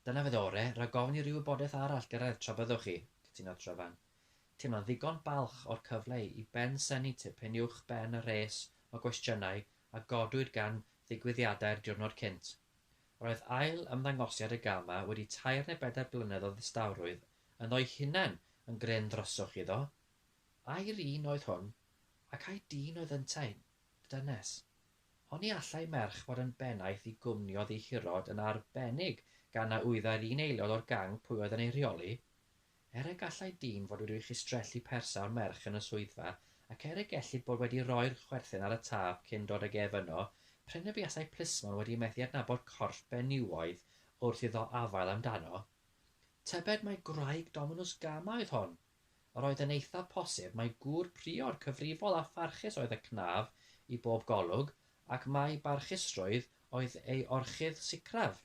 Dyna fydd ore, rhag ofn i ryw wybodaeth arall gyrraedd tra byddwch chi, cytunodd Tryfan, teimlo'n ddigon balch o'r cyfle i bensiynnu tipyn uwch ben y rhes o gwestiynau a godwyd gan ddigwyddiadau'r diwrnod cynt. Roedd ail ymddangosiad y gama wedi tair neu bedair blynedd o ddistawrwydd ynddo'i hunain yn gryn ddryswch iddo. Ai'r un oedd hwn, ac ai dyn oedd yntau'n dynes? Oni allai merch fod yn bennaeth i gwmni oddi hirod yn arbennig gan na wyddai'r un aelod o'r gang pwy oedd yn ei rheoli? Er y gallai dyn fod wedi chistrellu persawr merch yn y swyddfa, ac er y gellid bod wedi rhoi'r chwerthin ar y tâp cyn dod ag ef yno, prin y buasai plismon wedi methu adnabod corff benywaidd wrth iddo afael amdano. Tybed mai gwraig Dominws Gama oedd hon? Yr oedd yn eithaf posib mai gŵr priod cyfrifol a pharchus oedd y cnaf i bob golwg, ac mai barchusrwydd oedd ei orchudd sicraf.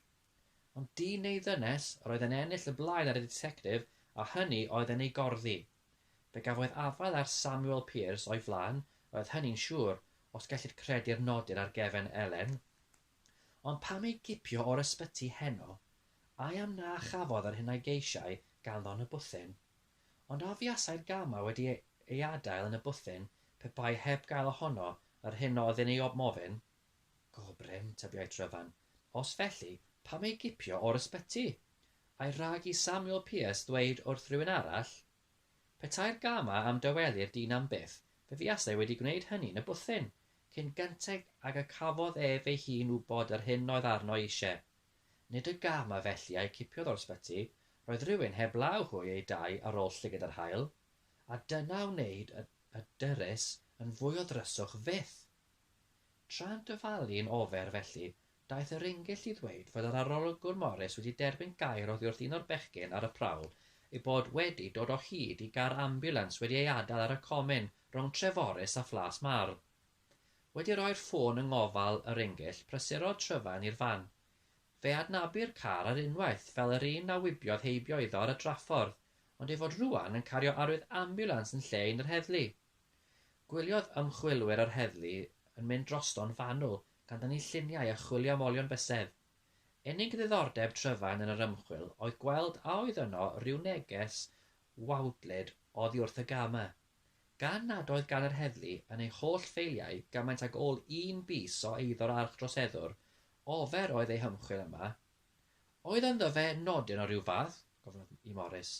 Ond dyn neu ddynes yr oedd yn ennill y blaen ar y ditectif a hynny oedd yn ei gorddi. Fe gafodd afael ar Samuel Pearse o'i flaen, yr oedd hynny'n siŵr, os gellid credu'r nodir ar gefen Elen. Ond pam ei gipio o'r ysbyty heno? Ai am na chafodd yr hyn a geisiai ganddo yn y bwthyn? Ond a fuasai'r gamau wedi ei adael yn y bwthyn pe bai heb gael ohono yr hyn oedd yn ei ofn? Go brin, tybiai Tryfan. Os felly, pam ei gipio o'r ysbyty? Ai rhag i Samuel Pierce ddweud wrth rywun arall? Petai'r gamau am dawelu'r dyn am byth, fe fuasai wedi gwneyd hynny yn y bwthyn, cyn gynteg ag y cafodd ef ei hun wybod yr hyn oedd arno eisiau. Nid y gamau felly a'u cipiodd o'r sbyty, roedd rhywun heb law hwy ei dai ar ol llyged yr haul, a dyna a wneyd y dyrys yn fwy o ddryswch fyth. Tra'n dyfalu'n ofer felly, daeth y Rhingyll i ddweud fod yr Arolygwr Morris wedi derbyn gair oddi wrth un o'r bechgyn ar y prawf ei bod wedi dod o hyd i gar ambiwlans wedi ei adael ar y comin rhwng Treforys a Phlas Mardd. Wedi rhoi'r ffôn yng ngofal y Rhingyll, prysurodd Tryfan i'r fan. Fe adnabu'r car ar unwaith fel yr un a wibiodd heibio iddo ar y draffordd, ond ei fod rŵan yn cario arwydd ambiwlans yn lle un yr heddlu. Gwyliodd ymchwilwyr yr heddlu yn mynd drosto'n fanwl, gan dynnu lluniau a chwilio am olion bysedd. Unig ddiddordeb Tryfan yn yr ymchwil oedd gweld a oedd yno ryw neges wawdlyd oddi wrth y gama. Gan nad oedd gan yr heddlu yn eu holl ffeiliau gymaint ag ôl un bys o eiddo'r archdroseddwr, ofer oedd eu hymchwil yma, Oedd ynddo fe nodyn o ryw fath? gofynnodd i Morris.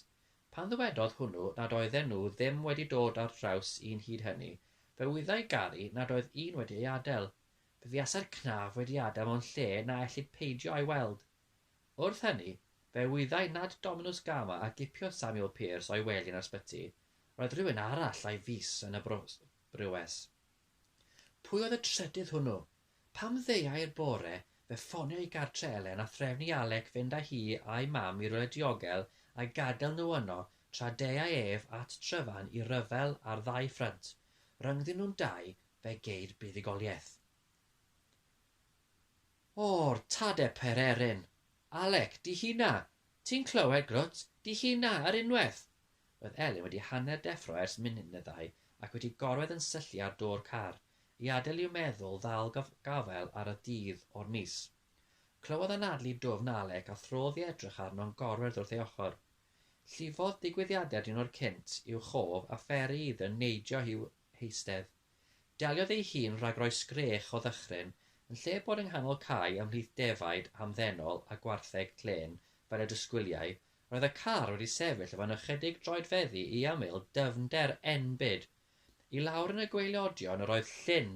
Pan ddywedodd hwnnw nad oedden nhw ddim wedi dod ar draws un hyd hynny, fe wyddai Gary nad oedd un wedi ei adael. Fe fuasai'r cnaf wedi adael mewn lle na ellid peidio a'i weld. Wrth hynny, fe wyddai nad Dominws Gama a gipio Samuel Pearse o'i wely yn yr ysbyty, roedd rhywun arall a'i fys yn y Brewes. Pwy oedd y trydydd hwnnw? Pam ddeuai'r bore fe ffonio i gartre Elen a threfn i Alec fynd â hi a'i mam i rywle diogel a gadael nhw yno tra deuai ef at Tryfan i ryfel ar ddau ffrynt, rhyngddyn nhw'n dau, fe geir buddugoliaeth. O'r tade pererin! Alec, di hina! Ti'n clywed, grwt? Di hina, yr unwaith! Roedd Elen wedi hanner deffro ers munud neu ddau ac wedi gorwedd yn syllu ar do'r car. I adael i'w meddwl ddal gafael ar y dydd o'r mis. Clywodd anadlu dwfn Alec a throdd i edrych arno'n gorwedd wrth ei ochr. Llifodd digwyddiadau'r diwrnod cynt i'w chof a pheri iddo neidio i'w heistedd. Deliodd ei hun rhag rhoi sgrech o ddychryn, yn lle bod yng nghanol cae ymhlith defaid hamddenol a gwartheg clên fel y disgwyliai, roedd y car wedi sefyll efo'n ychydig droedfeddi i ymyl dyfnder enbyd I lawr yn y gwaelodion yr oedd llyn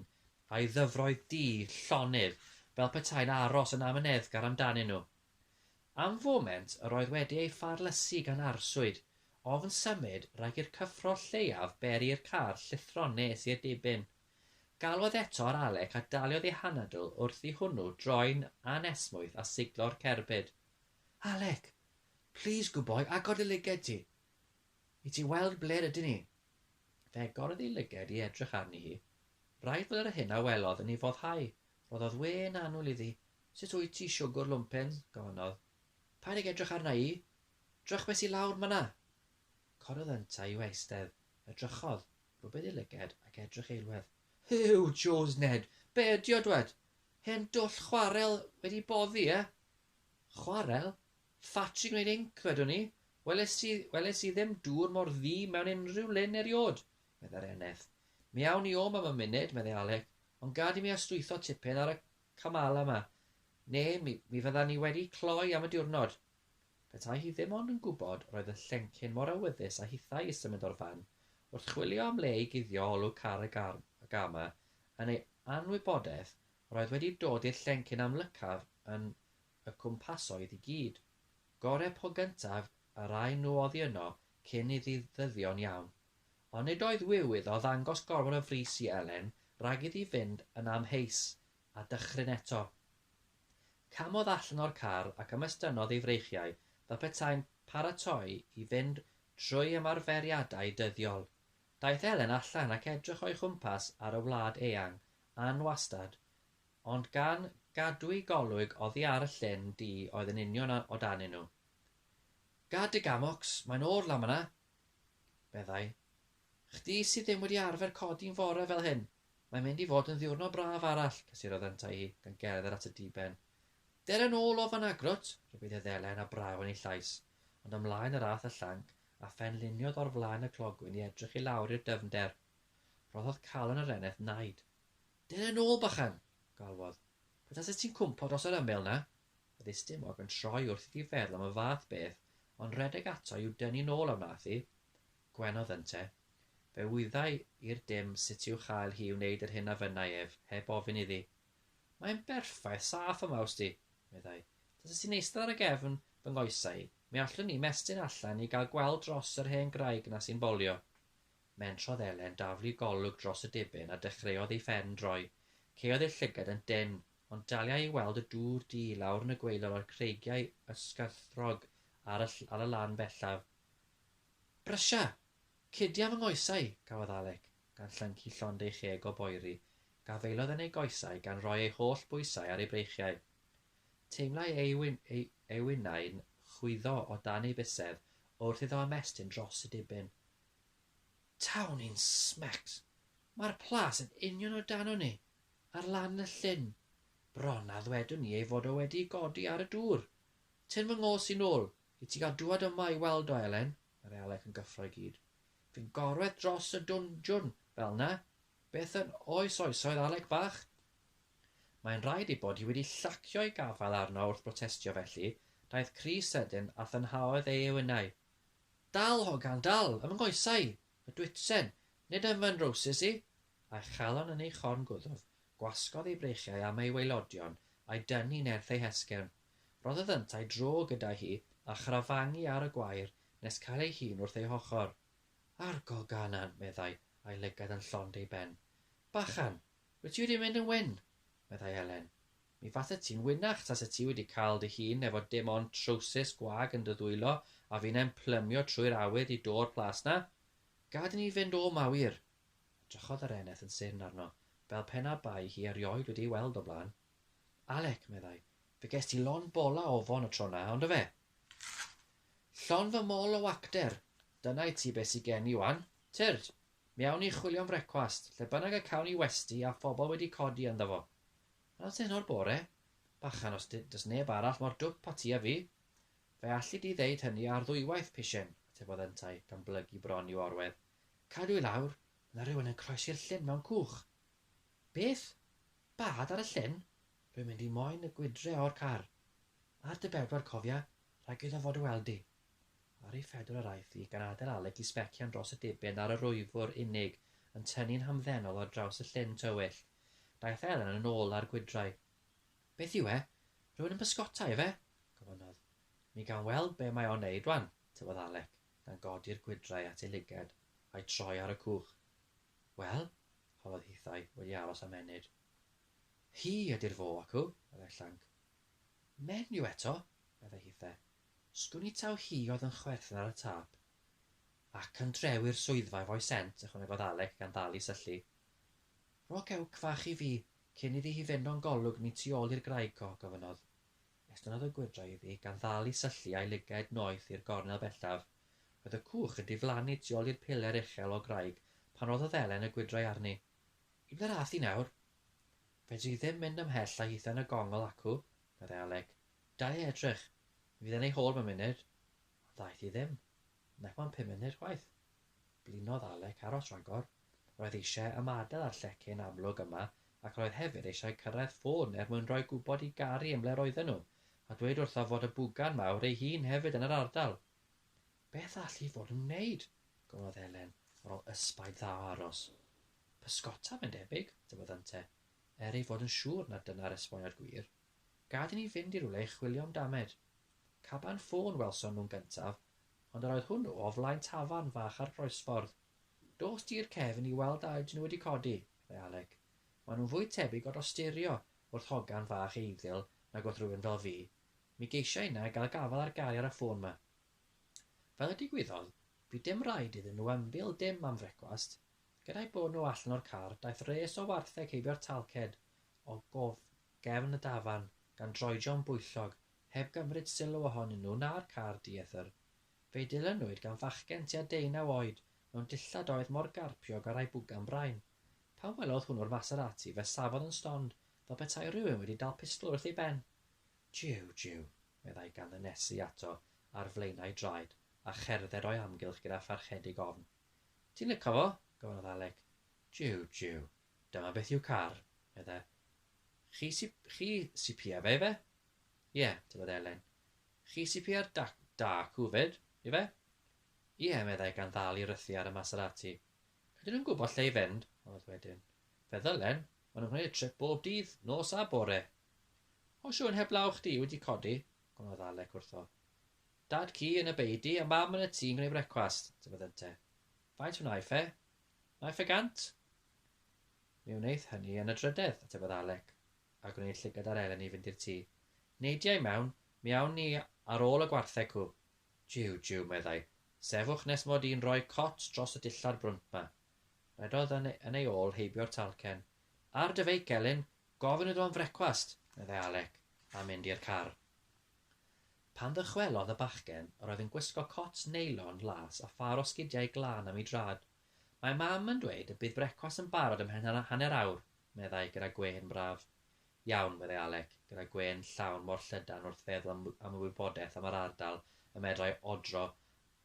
a'i ddyfroedd du llonydd fel petai'n aros yn amyneddgar amdanyn nhw. Am foment yr oedd wedi ei pharlysu gan arswyd, ofn symud rhag i'r cyffro lleiaf beri i'r car llithro'n nes i'r dibyn. Galwodd eto ar Alec a daliodd ei hanadl wrth i hwnnw droi'n anesmwyth a siglo'r cerbyd. Alec! Plîs gwboi, agor dy lygaid ti! I ti weld ble'r ydyn ni! Fe agorodd ei lyged i edrych arni hi. Braidd fod yr hyn a welodd yn ei foddhau. Rhoddodd wên annwyl iddi. Sut wyt ti, siwgwr lwmpen? gofynnodd. Paid ag edrych arna i! Drychwys i lawr myna! Corodd yntau i'w eistedd. Edrychodd, rhwbeth ei lyged ac edrych eilwedd. Huw, Jones Ned! Be ydi o, dwed? Hen dwll chwarel wedi boddi, e? Chwarel? Ffatri gwneud inc, wedwn i. Welais i, welais i ddim dŵr mor ddu mewn unrhyw lyn eriôd, meddai'r eneth. Mi awn ni om am y munud, meddai Alec, ond gad i mi astwytho tipyn ar y Kamala 'ma, neu mi, mi fyddan ni wedi cloi am y diwrnod. Petai hi ddim ond yn gwybod, roedd y llencyn mor awyddus a hithau i symud o'r fan, wrth chwilio am le i guddio olwg car y gar, y Gama, yn ei anwybodeth, roedd wedi dod i'r llencyn amlycaf yn y cwmpasoedd i gyd. Gore po gyntaf a raen nhw oddi yno cyn iddi ddyddion iawn. Ond nid oedd wiw iddo ddangos gormod o frys i Elen rhag iddi fynd yn amheus, a dychryn eto. Camodd allan o'r car ac ymestynodd ei freichiau fel petai'n paratoi i fynd trwy ymarferiadau dyddiol. Daeth Elen allan ac edrych o'i chwmpas ar y wlad eang, anwastad. Ond gan gadw'u golwg oddi ar y llyn du oedd yn union o danyn nhw. Gad dy gamocs, mae'n o'r lan fan'na! meddai. Chdi sydd ddim wedi arfer codi'n fore fel hyn! Mae'n mynd i fod yn ddiwrnod braf arall, cysurodd yntau hi, gan gerdded at y diben. Dere nôl o fan'na, grwt! Rhybudd hedd Elen a braw yn ei llais, ond ymlaen yr ath y llanc, a phen luniodd o'r flaen y clogwyn i edrych i lawr i'r dyfnder. Rhoddodd calon yr eneth naid. Dere nôl, bychan! galwodd. Pe taset ti'n cwmpo dros yr ymyl 'na! Byddai stumog yn troi wrth iddi feddwl am y fath beth, ond rhedeg ato i'w dynnu nôl a wnaeth hi. Gwenodd ynte. Fe wyddai i'r dim sut i'w chael hi i wneud yr hyn a fynnai ef, heb ofyn iddi. Mae'n berffaith saff yma wsti, meddai. Taset ti'n eistedd ar y gefn fy nghoesau i, mi allwn i 'mestyn allan i gael gweld dros yr hen graig 'na sy'n bolio. Mentrodd Elen daflu golwg dros y dibyn a dechreuodd ei phen droi. Caeodd ei llygad yn dynn, ond daliai i weld y dŵr du lawr yn y gwaelod a'r creigiau ysgarthrog ar y ar y lan bellaf. Brysia! Cydia fy nghoesau! cafodd Alec, gan llyncu llond ei cheg o boeri, gafaelodd yn ei goesau gan roi ei holl bwysau ar ei breichiau. Teimlai ei wyn ei ei wynau'n chwyddo o dan ei bysedd wrth iddo ymestyn dros y dibyn. Tawn i'n smecs, mae'r plas yn union o danon ni, ar lan y llyn. Bron a ddwedwn ni ei fod o wedi godi ar y dŵr. Tyn fy ngôs i'n ôl, i ti gael dŵad yma i weld o, Elen, yr elec yn gyffro i gyd. Fi'n gorwedd dros y dwndwn fel 'na. Beth yn oes oesoedd, Alec bach? Mae'n rhaid ei bod hi wedi llacio ei gafael arno wrth brotestio felly, daeth crys sydyn a thynhaodd ei ewynau. Dal, hogan, dal, ym nghoesau y dwitsen, nid ym fy nrowsus i! A'i chalon yn ei chorn gwddf, gwasgodd ei breichiau am ei waelodion, a'i dynnu nerth ei hesgyrn. Rhoddodd yntau dro gyda hi, a chrafangu ar y gwair, nes cael ei hun wrth ei hochr. Argol Ganan! meddai, a'i lygad yn llond ei ben. Bachan! Wyt ti wedi mynd yn wyn? meddai Elen. Mi faset ti'n winach tase ti wedi cael dy hun efo dim ond trowsus gwag yn dy ddwylo a finnau'n plymio trwy'r awydd i do'r plas 'na. Gad i ni fynd o 'ma wir! Edrychodd yr eneth yn syrn arno, fel pe na bai hi erioed wedi ei weld o'r blaen. Alec, meddai, fe gest ti lon bola ofon y tro 'na, ond yfe? Llon fy mol o wacter! Dyna i ti be' sy gen i 'wan. Tyrd! Mi awn ni chwilio'n frecwast, lle bynnag y cawn ni westy a phobl wedi codi ynddo fo. Yn y tenor bore, bachan os does neb arall mor dwp a ti a fi, fe alli di ddeud hynny ar ddwywaith, Pishyn, atebodd yntau, gan blygu bron i'w orwedd. Cadw i lawr, mae yna rywun yn croesi'r llyn mewn cwch. Beth? Bad ar y llyn? Rwy'n mynd i moyn y gwydre o'r car. Ar dy bedwar, cofia, rhaid iddo fod o weld di. Ar ei phedwar yr aeth hi, gan adael Aled i sbecian dros y diben ar yr wyfwr unig, yn tynnu'n hamddenol ar draws y llyn tywyll. Daeth Elen yn ôl â'r gwydrau. Beth yw e? Rhywun yn bysgota, ife? gofynnodd. Mi gawn weld be' mae o'n 'neud 'wan, tybiodd Alec, gan godi'r gwydrau at ei lygad, a'i troi ar y cwch. Wel? holodd hithau, wedi aros am ennyd. Hi ydi'r fo, acw, meddai Llanc. Menyw eto? meddai hithe. Sgwn i taw hi oedd yn chwerthin ar y tâp. Ac yn drewi'r swyddfa efo'i sent, ychwanegodd Alec gan ddal i syllu. Rho cewc fach i fi, cyn iddi hi fynd o'n golwg ni tu ôl i'r graig, Co, gofynnodd. Estynnodd y gwydra iddi gan ddal i syllu a'i lygaid noeth i'r gornel bellaf. Roedd y cwch yn diflannu tu ôl i'r piler uchel o graig pan roddodd Ddelen y gwydrau arni. Ib dy radd di nawr? Fedri ddim mynd ymhell a hithen y gongl acw, Meddai Alec. Da i edrych. Mi fydd e'n ei hôl mewn munud. Ond ddaeth hi ddim. Nac mewn pum munud chwaith. Blinodd Alec aros rhagor. Roedd eisiau ymadael â'r llecyn amlwg yma ac roedd hefyd eisiau cyrraedd ffôn er mwyn rhoi gwybod i Gary yn ble roedden nhw, a dweud wrtho fod y bwgan mawr ei hun hefyd yn yr ardal. Beth all hi fod yn wneud? gofynnodd Elen ar ôl ysbaid dda o aros. Pysgota, mae'n debyg, dyweddante. er ei fod yn siŵr nad dyna'r esboniad gwir, gad i ni fynd i rywle i chwilio am damed. Caban ffôn welson nhw'n gyntaf, ond yr oedd hwnnw o flaen tafarn fach ar groesffordd. Dos di i'r cefn i weld a ydyn nhw wedi codi, meddai Alec. Maen nhw'n fwy tebyg o dosturio wrth hogan fach eiddil nag wrth rywun fel fi. Mi geisiau inne gael gafael ar Gary ar y ffôn 'ma. Fel y digwyddodd, bu dim raid iddyn nhw ymbil dim am frecwast, Gyda'u bod nhw allan o'r car, daeth res o wartheg heibio'r talced o gefn y dafarn, gan droedio'n bwyllog, heb gymryd sylw ohonyn nhw na'r car dieithr. Fe'i dilynwyd gan fachgen tua deunaw oed, mewn dillad oedd mor garpiog a rhai bwgan brain. Pan welodd hwnnw'r Maserati, fe safodd yn stond, fel petai rhywun wedi dal pistol wrth ei ben. Jiw, jiw! meddai gan ddynesu ato ar flaenau draed, a cherdded o'i amgylch gyda pharchedig ofn. Ti'n lico fo? gofynnodd Alec. Jiw, jiw. Dyma beth yw car, meddai. Chi sy, chi sy pia fe, ife? Ie, tybed Elen. Chi sy pia'r da, da cwfyd, ife? Ie, meddai gan ddal i rythu ar y Maserati. Ydyn nhw'n gwybod lle i fynd? Oedd wedyn. Fe ddylen, maen nhw'n gwneud y trip bob dydd, nos a bore. O siwn heblaw chdi wedi codi, gofynnodd Alec wrtho. Dad ci yn y beudy a mam yn y tŷ'n gwneud brecwast, dywedodd Ynte. Faint wnai ffe? Wnai ffe gant? Mi wneith hynny yn y drydedd, atebodd Alec, a gwneud llygad ar Elen i fynd i'r tŷ. Neidia i mewn, mi awn ni ar ôl y gwartheg cŵ. Jiw, jiw, meddai, sefwch nes mod i'n rhoi cot dros y dillad brwnt 'ma. Rhedodd yn ei ôl heibio'r talcen. Ar dy feic, Elin, gofyn iddo am frecwast, meddai Alec, a mynd i'r car. Pan ddychwelodd y bachgen, yr oedd yn gwisgo cot neilon las a phâr o sgidiau glân am ei draed. Mae Mam yn dweud y bydd brecwast yn barod ymhen hanner awr, meddai, gyda gwên braf. Iawn, meddai Alec, gyda gwên llawn mor llydan wrth feddwl am am y wybodaeth am yr ardal y medrai odro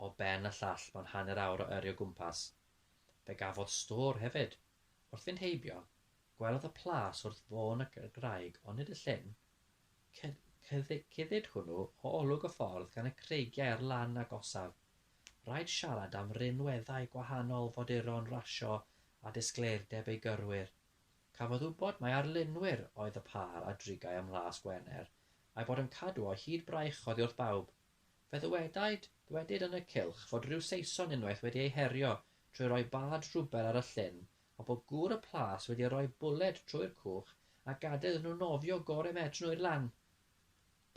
o ben y llall mewn hanner awr o yrru o gwmpas. Fe gafodd stôr hefyd. Wrth fynd heibio, gwelodd y plas wrth fôn y graig ond nid y llyn. Cyllid hwnnw o olwg y ffordd gan y creigiau ar lan agosaf. Rhaid siarad am rinweddau gwahanol foduron rasio a disgleirdeb ei gyrwyr. Cafodd wybod mai arlunwyr oedd y pâr a drigai ym Mhlas Gwener, a'i bod yn cadw o hyd braich oddi wrth bawb. Fe ddywedaid, ddwedid yn y cylch fod rhyw Saeson unwaith wedi eu herio trwy roi bad rhwber ar y llyn a bod gŵr y plas wedi rhoi bwled trwy'r cwch a gadael iddyn nhw nofio gore medrwn nhw i'r lan.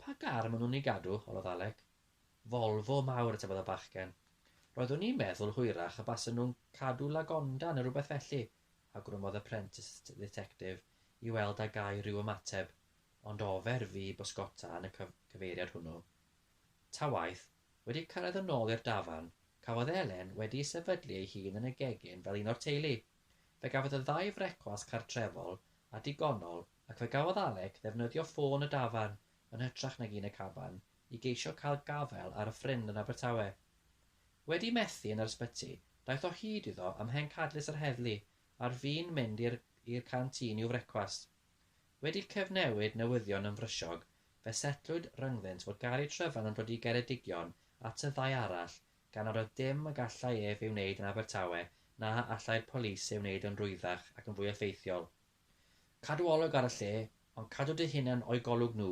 Pa gar maen nhw'n ei gadw? holodd Alec. Volvo mawr, atebodd y bachgen. Roeddwn i'n meddwl hwyrach y basen nhw'n cadw Lagonda neu rywbeth felly, awgrymodd y Prenticed Dditectif i weld a gai ryw ymateb, ond ofer fu bysgota yn y cyfeiriad hwnnw. Ta waeth, Wedi cyrraedd yn ôl i'r dafarn, cafodd Elen wedi'i sefydlu ei hun yn y gegin fel un o'r teulu. Fe gafodd y ddau frecwast cartrefol a digonol ac fe gafodd Alec ddefnyddio ffôn y dafarn yn hytrach nag un y caban i geisio cael gafael ar y ffrind yn Abertawe. Wedi methu yn yr ysbyty, daeth o hyd iddo ym mhencadlys yr heddlu, ar fin mynd i'r i'r canteen i'w frecwast. Wedi cyfnewid newyddion yn frysiog, fe setlwyd ryngddynt fod Gary Tryfan yn dod i Geredigion at y ddau arall gan nad oedd dim y gallai ef ei wneud yn Abertawe na allai'r polis ei wneud yn rwyddach ac yn fwy effeithiol. Cadw olwg ar y lle, ond cadw dy hunan o'u golwg nhw,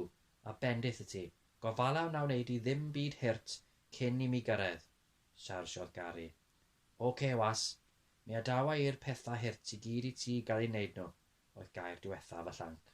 a bendith i ti. Gofala wna wneud i ddim byd hurt cyn i mi gyrraedd, siarjiodd Gary. Ok, was. Mi adawa i'r pethau hurt i gyd i ti gael eu wneud nhw. oedd gair diwethaf y llanc.